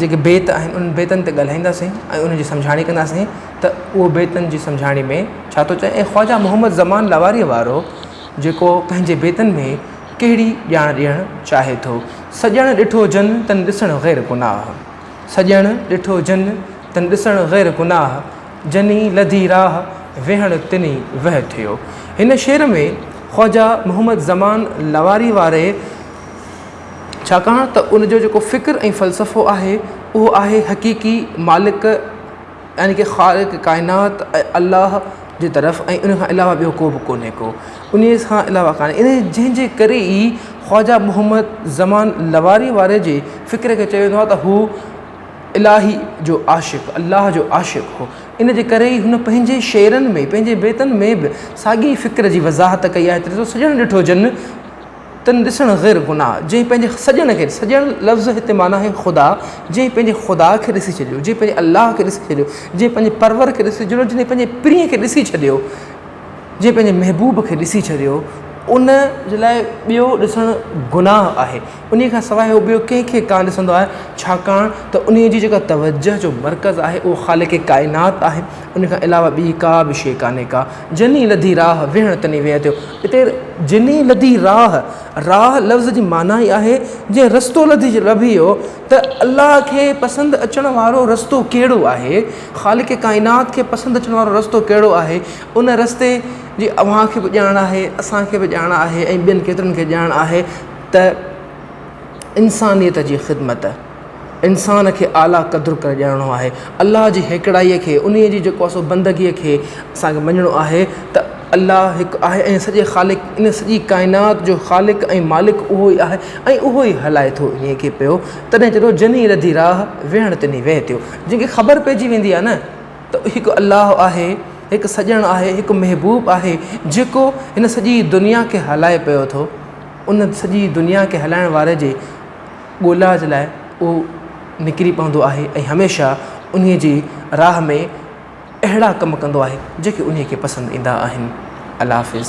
جيڪي بيت آهن انهن بيتن تي ڳالهائينداسين ۽ انهن جي سمجهاڻي ڪنداسين ته اهو بيتن جي سمجهاڻي ۾ ڇا ٿو چئي ۽ خواجه محمد زمان لغاريء وارو جيڪو پنهنجي بيتن ۾ ڪهڙي ڄاڻ ڏيڻ چاهي ٿو سڄڻ ڏٺو جن تن ڏسڻ غير گناهه سڄڻ ڏٺو جن تن ڏسڻ غير گناهه جني لڌي راهه ويهڻ تني وهه ٿيو هن شعر ۾ خواجه محمد زمان لغاريء واري ڇاڪاڻ ته ان جو جيڪو فڪر ۽ فلسفو آهي اهو آهي حقيقي مالڪ يعني ڪه خالق ڪائنات ۽ الله جي طرف ۽ ان کان علاوه ٻيو ڪو به ڪونهي ڪو انهي کان علاوه ڪانهي انهي جنهن جي ڪري ئي خواجه محمد زمان لواري واري جي فڪر کي چيو ويندو آهي ته هو الاهي جو عاشق الله جو عاشق هو ان جي ڪري ئي هن پنهنجي شعرن ۾ پنهنجي بيتن ۾ به ساڳي فڪر جي وضاحت ڪئي آهي ته سڄڻ ڏٺو جن تنھن ڏسڻ غير گناھ، جنھن پنھنجي سڄڻ کي، سڄڻ لفظ هتي معنيٰ آهي خدا، جنھن پنھنجي خدا کي ڏسي ڇڏيو، جنھن پنھنجي الله کي ڏسي ڇڏيو، جنھن پنھنجي پرور کي ڏسي ڇڏيو، جنھن پنھنجي پرينء کي ڏسي ڇڏيو، جنھن پنھنجي محبوب کي ڏسي ڇڏيو، ان جي لاء ٻيو ڏسڻ گناھ آهي، انھيء کان سواء هو ٻيو ڪنھن کي ڪانه ڏسندو آهي، ڇاڪاڻ ته انھيء جي جيڪا توجهه جو مرڪز آهي اهو خالق ڪائنات آهي. ان کان علاوه ٻي ڪا به شيء ڪانهي ڪا. جني لڌي راهه، ويهڻ تني ويهه ٿيو. اتي جني لڌي راهه، راهه لفظ جي معنيٰ ئي آهي، جنهن رستو لڌي لڀيو ته الله کي پسند اچڻ وارو رستو ڪهڙو آهي، خالق ڪائنات کي پسند اچڻ وارو رستو ڪهڙو آهي، ان رستي جي اوهان کي به ڄاڻ آهي، اسان کي به ڄاڻ آهي ۽ ٻين ڪيترن کي ڄاڻ آهي ته انسانيت جي خدمت. انسان کي اعليٰ قدر ڪري ڄاڻڻو آهي الله جي هيڪڙائي کي ان جي جيڪو سو بندگي کي اسان کي مڃڻو آهي ته الله هڪ آهي ۽ سڄي خالق ان سڄي ڪائنات جو خالق ۽ مالڪ اهو ئي آهي ۽ اهو ئي هلائي ٿو انهي کي پيو تڏهن چئي ٿو جنهي رڌي راهه ويهڻ تنهي ويهه ٿيو جنهن کي خبر پئجي ويندي آهي نه ته هڪ الله آهي هڪ سڄڻ آهي هڪ محبوب آهي جيڪو هن سڄي دنيا کي هلائي پيو ٿو ان سڄي دنيا کي هلائڻ واري جي ڳولا جي لاء اهو نڪري پوندو آهي ۽ هميشه انهيء جي راهه ۾ اهڙا ڪم ڪندو آهي جيڪي انهيء کي پسند ايندا آهن. الله حافظ.